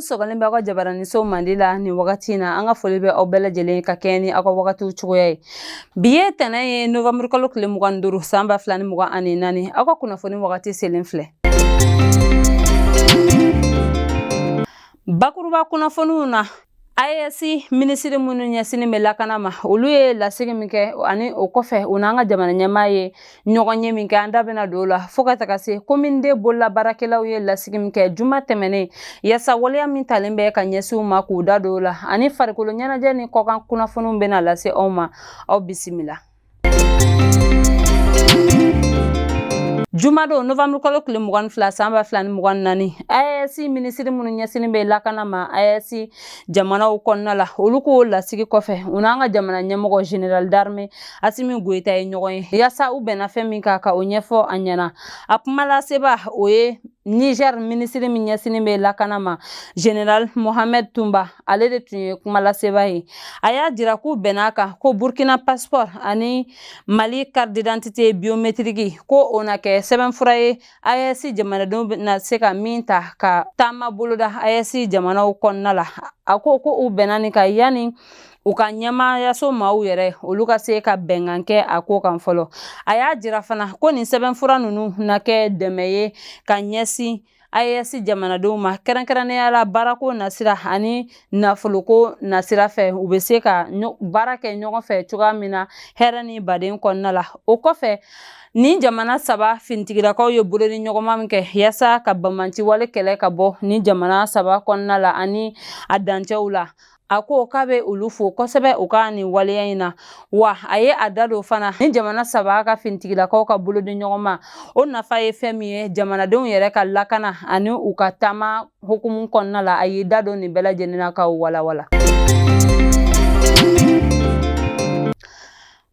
sɔgɔlen bɛ aw ka jabaranisow mandi la nin wagati in na an ka foli bɛ aw bɛɛ lajɛlen ka kɛɲɛ ni aw ka wagatiw cogoya ye bi ye tɛnɛn ye nowanburukalo tile mugan ni duuru san ba fila ni mugan ani naani aw ka kunnafoni wagati selen filɛ Bakuruba kunnafoniw na AES minisiri minnu ɲɛsinnen bɛ lakana ma olu ye lasigi min kɛ ani o kɔfɛ u n'an ka jamana ɲɛmaa ye ɲɔgɔn ye min kɛ an da bɛna don o la fo ka taga se commune deux bololabaarakɛlaw ye lasigi min kɛ juma tɛmɛnen yasa waleya min talen bɛ ka ɲɛsin u ma k'u da don o la ani farikolo ɲɛnajɛ ni kɔkan kunnafoniw bɛna lase aw ma aw bisimila Jumadon nowanburu kalo tile mugan ni fila san ba fila ni mugan ni naani AES minisiri minnu ɲɛsinnen bɛ lakana ma AES jamanaw kɔnɔna la olu k'o lasigi kɔfɛ u n'an ka jamana ɲɛmɔgɔ général d'armée Asimi Goyita ye ɲɔgɔn ye yaasa u bɛnna fɛn min kan ka o ɲɛfɔ a ɲɛna a kumalaseba o ye Niger minisiri min ɲɛsinnen bɛ lakana ma général Mohamed Tumba ale de tun ye kumalaseba ye a y'a jira k'u bɛnna a kan ko burkina passeport ani mali carte d'identité biométrique ko o na kɛ sɛbɛnfura ye AES jamanadenw na se ka min ta ka taama boloda AES jamanaw kɔnɔna la a ko ko u bɛnna nin kan yanni u ka ɲɛmaayaso maaw yɛrɛ olu ka se ka bɛnkan kɛ a ko kan fɔlɔ a y'a jira fana ko nin sɛbɛnfura ninnu na kɛ dɛmɛ ye ka ɲɛsin AES jamanadenw ma kɛrɛnkɛrɛnnenya la baarako nasira ani nafoloko nasira fɛ u bɛ se ka baara kɛ ɲɔgɔn fɛ cogoya min na hɛrɛ ni baden kɔnɔna la o kɔfɛ nin jamana saba finitigilakaw ye bolodiɲɔgɔnma min kɛ yaasa ka banbaanciwale kɛlɛ ka bɔ nin jamana saba kɔnɔna la ani a dancɛw la a ko k'a bɛ olu fo kosɛbɛ u ka nin waleya in na wa a ye a da don fana nin jamana saba ka finitigilakaw ka bolodiɲɔgɔnma o nafa ye fɛn min ye jamanadenw yɛrɛ ka lakana ani u ka taama hukumu kɔnɔna la a y'i da don nin bɛɛ lajɛlen na k'o walawala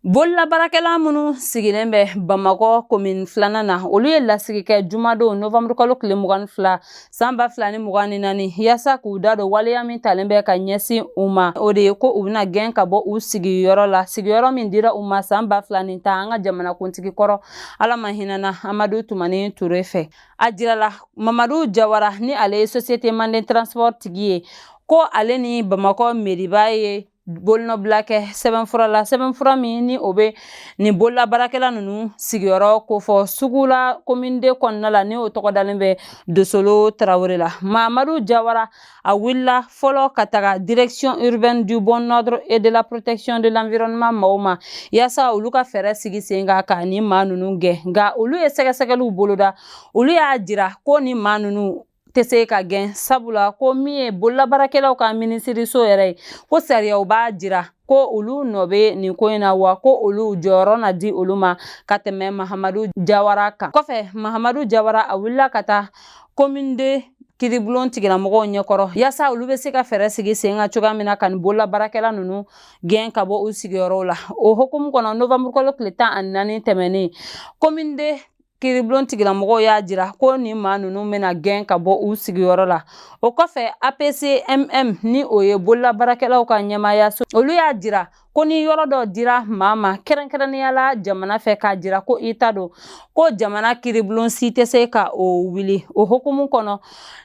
Bololabaarakɛla minnu sigilen bɛ bamakɔ komin filanan na olu ye lasigi kɛ jumadon nowanburukalo tile mugan ni fila san ba fila ni mugan ni naani yaasa k'u da don waleya min talen bɛ ka ɲɛsin u ma o de ye ko u bɛna gɛn ka bɔ u sigiyɔrɔ la sigiyɔrɔ min dira u ma san ba fila ni tan an ka jamanakuntigi kɔrɔ ala ma hinɛna Amadu Tumani Ture fɛ a jirala mamadu jawara ni ale ye société Manden transport tigi ye ko ale ni bamakɔ mɛriba ye bolonɔbila kɛ sɛbɛnfura la sɛbɛnfura min ni o bɛ nin bololabaarakɛla ninnu sigiyɔrɔ kofɔ sugu la kominde kɔnɔna la ni o tɔgɔ dalen bɛ dosolo tarawele la mamadu jawara a wulila fɔlɔ ka taga direction urbaine du bon ordre et de la protection de l'environnement maaw ma yaasa olu ka fɛɛrɛ sigi sen kan ka nin maa ninnu gɛn nka olu ye sɛgɛsɛgɛliw boloda olu y'a jira ko nin maa ninnu tɛ se ka gɛn sabula ko min ye bololabaarakɛlaw ka minisiriso yɛrɛ ye ko sariyaw b'a jira ko olu nɔ bɛ nin ko in na wa ko olu jɔyɔrɔ na di olu ma ka tɛmɛ mahamadu jawara kan kɔfɛ mahamadu jawara a wulila ka taa kominde kiribulon tigilamɔgɔw ɲɛkɔrɔ yaasa olu bɛ se ka fɛɛrɛ sigi sen kan cogoya min na ka nin bololabaarakɛla ninnu gɛn ka bɔ u sigiyɔrɔw la o hukumu kɔnɔ nowanburukalo tile tan ani naani tɛmɛnen kominde Kiiribulon tigilamɔgɔw y'a jira ko nin maa ninnu bɛna gɛn ka bɔ u sigiyɔrɔ la o kɔfɛ APCMM ni o ye bololabaarakɛlaw ka ɲɛmaayaso olu y'a jira ko ni yɔrɔ dɔ dira maa ma kɛrɛnkɛrɛnnenya la jamana fɛ k'a jira ko i ta don ko jamana kiiribulon si tɛ se ka o wuli o hukumu kɔnɔ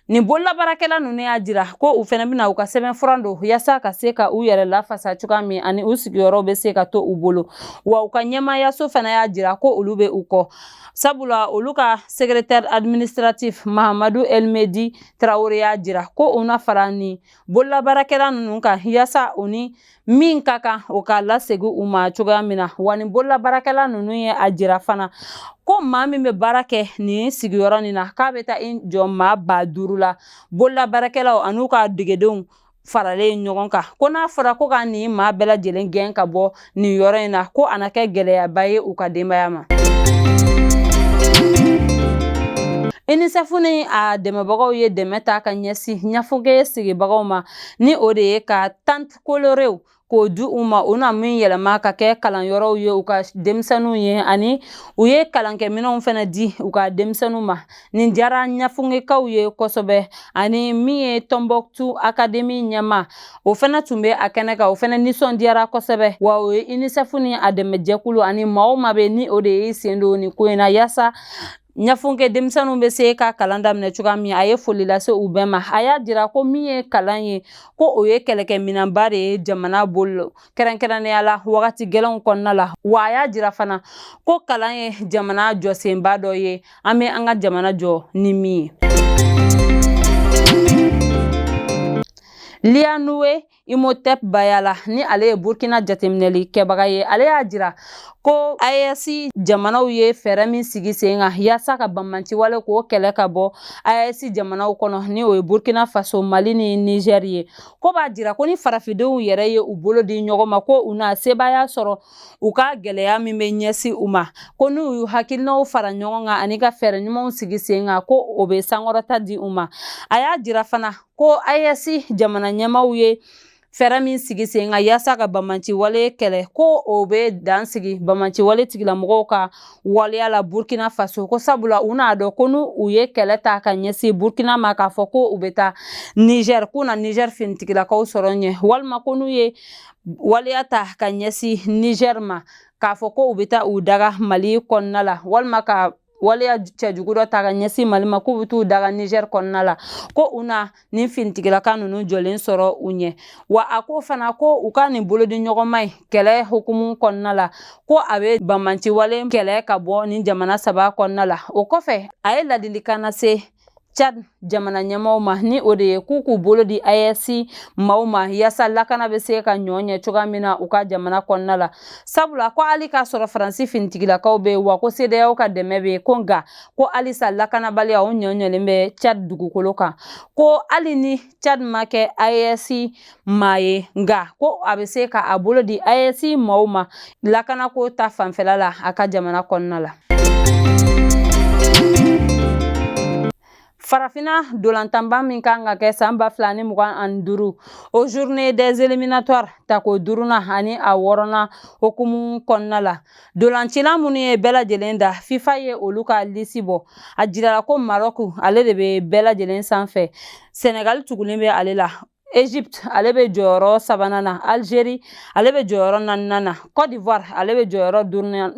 nin bololabaarakɛla ninnu y'a jira ko u fana bɛna u ka sɛbɛnfura don yaasa ka se ka u yɛrɛ lafasa cogoya min ani u sigiyɔrɔ bɛ se ka to u bolo wa u ka ɲɛmaayaso fana y'a jira ko olu bɛ u kɔ sabula olu ka secrétaire administratif mahamadu elmedi tarawele y'a jira ko u na fara nin bololabaarakɛla ninnu kan yaasa u ni min ka kan o ka lasegin u ma cogoya min na wa nin bololabaarakɛla ninnu ye a jira fana ko maa min bɛ baara kɛ nin sigiyɔrɔ nin na k'a bɛ taa i jɔ maa ba duuru la bololabaarakɛlaw an'u ka degedenw faralen ɲɔgɔn kan ko n'a fɔra ko ka nin maa bɛɛ lajɛlen gɛn ka bɔ nin yɔrɔ in na ko a na kɛ gɛlɛyaba ye u ka denbaya ma UNICEF ni a dɛmɛbagaw ye dɛmɛ ta ka ɲɛsin ɲafunke sigibagaw ma ni o de ye ka tante kolorew k'o di u ma u na min yɛlɛma ka kɛ kalanyɔrɔw ye u ka denmisɛnninw ye ani u ye kalankɛminɛnw fana di u ka denmisɛnninw ma nin diyara ɲafunkekaw ye kosɛbɛ ani min ye tɔnbɔkutu akademi ɲɛmaa o fana tun bɛ a kɛnɛ kan o fana nisɔndiyara kosɛbɛ wa o ye unicef ni a dɛmɛjɛkulu ani maa o maa bɛ ni o de ye i sen don nin ko in na yaasa ɲafunke denmisɛnninw bɛ se ka kalan daminɛ cogoya min a ye foli lase u bɛɛ ma a y'a jira ko min ye kalan ye ko o ye kɛlɛkɛminɛnba de ye jamana bolo kɛrɛnkɛrɛnnenya la wagati gɛlɛnw kɔnɔna la wa a y'a jira fana ko kalan ye jamana jɔsenba dɔ ye an bɛ an ka jamana jɔ ni min ye liya nuwe Imhotep Bayala ni ale ye Burkina jateminɛli kɛbaga ye ale y'a jira ko AES jamanaw ye fɛɛrɛ min sigi sen kan yaasa ka banbaanciwale k'o kɛlɛ ka bɔ AES jamanaw kɔnɔ ni o ye Burkina Faso Mali ni Niger ye ko b'a jira ko ni farafindenw yɛrɛ ye u bolo di ɲɔgɔn ma ko u na sebaaya sɔrɔ u ka gɛlɛya min bɛ ɲɛsin u ma ko n'u y'u hakilinaw fara ɲɔgɔn kan ani ka fɛɛrɛ ɲumanw sigi sen kan ko o bɛ sankɔrɔta di u ma a y'a jira fana ko AES jamana ɲɛmaaw ye fɛɛrɛ min sigi sen kan yaasa ka banbaanciwale kɛlɛ ko o bɛ dan sigi banbaanciwale tigilamɔgɔw ka waleya la burkina faso ko sabula u n'a dɔn ko n'u ye kɛlɛ ta ka ɲɛsin burkina ma k'a fɔ ko u bɛ taa nizɛri k'u na nizɛri finitigilakaw sɔrɔ ɲɛ walima ko n'u ye waleya ta ka ɲɛsin nizɛri ma k'a fɔ ko u bɛ taa u daga mali kɔnɔna la walima ka waleya cɛjugu dɔ ta ka ɲɛsin mali ma k'u bɛ t'u daga niger kɔnɔna la ko u na nin finitigilaka ninnu jɔlen sɔrɔ u ɲɛ wa a ko fana ko u ka nin bolodi ɲɔgɔnma in kɛlɛ hukumu kɔnɔna la ko a bɛ banbaanciwale kɛlɛ ka bɔ nin jamana saba kɔnɔna la o kɔfɛ a ye ladilikan lase Chad jamana ɲɛmaaw ma ni o de ye k'u k'u bolo di AES maaw ma yaasa lakana bɛ se ka ɲɔgɔn ɲɛ cogoya min na u ka jamana kɔnɔna la sabula ko hali k'a sɔrɔ faransi finitigilakaw bɛ yen wa ko CEDEAO ka dɛmɛ bɛ yen ko nka ko halisa lakanabaliya o ɲɔɲɔlen bɛ Chad dugukolo kan ko hali ni Chad ma kɛ AES maa ye nka ko a bɛ se ka a bolo di AES maaw ma lakanako ta fanfɛla la a ka jamana kɔnɔna la farafinna dolantanba min kan ka kɛ san ba fila ni mugan ani duuru o journée des éliminatoires tako duurunan ani a wɔɔrɔnan hukumu kɔnɔna la Dolancila minnu ye bɛɛ lajɛlen da FIFA ye olu ka lisi bɔ a jirala ko marɔku ale de bɛ bɛɛ lajɛlen sanfɛ sɛnɛgali tugulen bɛ ale la Egypte ale bɛ jɔyɔrɔ sabanan na Algérie ale bɛ jɔyɔrɔ naaninan na Côte d'Ivoire ale bɛ jɔyɔrɔ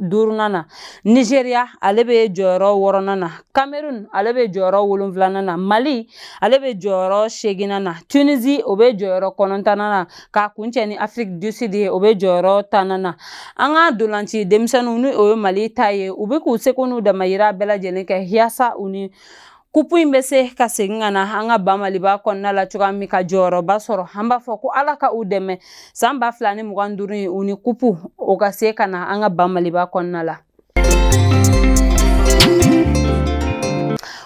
duurunan na Nigeria ale bɛ jɔyɔrɔ wɔɔrɔnan na Cameroun ale bɛ jɔyɔrɔ wolonwulanan na Mali ale bɛ jɔyɔrɔ seeginan na Tunisie o bɛ jɔyɔrɔ kɔnɔntɔnnan na k'a kuncɛ ni Afrique du Sud ye o bɛ jɔyɔrɔ tannan na an ka dolanci denmisɛnninw ni o ye mali ta ye u bɛ k'u seko n'u damayira bɛɛ lajɛlen kɛ yaasa u ni kupu in bɛ se ka segin ka na an ka ba maliba kɔnɔna la cogoya min ka jɔyɔrɔba sɔrɔ an b'a fɔ ko ala ka u dɛmɛ san ba fila ni mugan duuru in u ni kupu o ka se ka na an ka ba maliba kɔnɔna la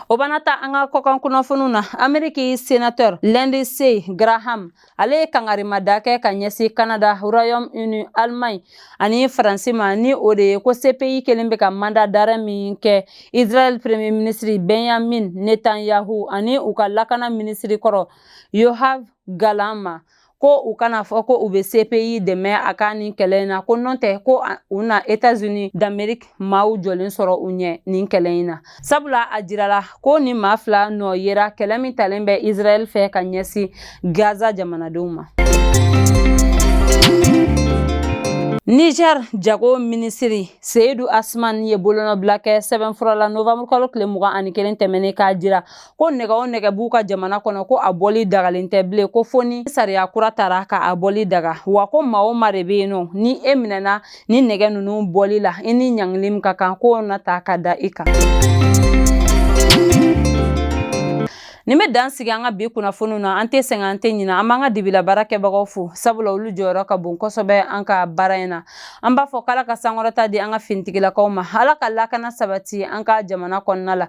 o bana ta an ka kɔkan kunnafoniw na ameriki sénateur Lindsey Graham ale ye kangarimada kɛ ka ɲɛsin Canada, Royaume-Uni, Allemagne ani Faransi ma ni o de ye ko CPI kelen bɛ ka mandat d'arrêt min kɛ Israel premier ministre Benjamin Netanyahu ani u ka lakana ministre kɔrɔ Yoav Gallant ma ko u kana fɔ ko u bɛ CPI dɛmɛ a ka nin kɛlɛ in na ko nɔntɛ ko u na Etats-Unis d'Amérique maaw jɔlen sɔrɔ u ɲɛ nin kɛlɛ in na sabula a jirala ko nin maa fila nɔ yera kɛlɛ min talen bɛ israɛl fɛ ka ɲɛsin gaza jamanadenw ma niger jago minisiri seyidu asuman ye bolonɔbila kɛ sɛbɛnfura la novembre kalo tile mugan ani kelen tɛmɛnen k'a jira ko nɛgɛ o nɛgɛ b'u ka jamana kɔnɔ ko a bɔli dagalen tɛ bilen ko fo ni sariya kura tara ka a bɔli daga wa ko maa o maa de bɛ yen nɔ ni e minɛna ni nɛgɛ ninnu bɔli la i ni ɲangili min ka kan k'o na ta ka da i kan. nin bɛ dan sigi an ka bi kunnafoniw na an tɛ sɛgɛn an tɛ ɲinɛ an b'an ka dibila baarakɛbagaw fo sabula olu jɔyɔrɔ ka bon kosɛbɛ an ka baara in na an b'a fɔ k'ala ka sankɔrɔta di an ka finitigilakaw ma ala ka lakana sabati an ka jamana kɔnɔna la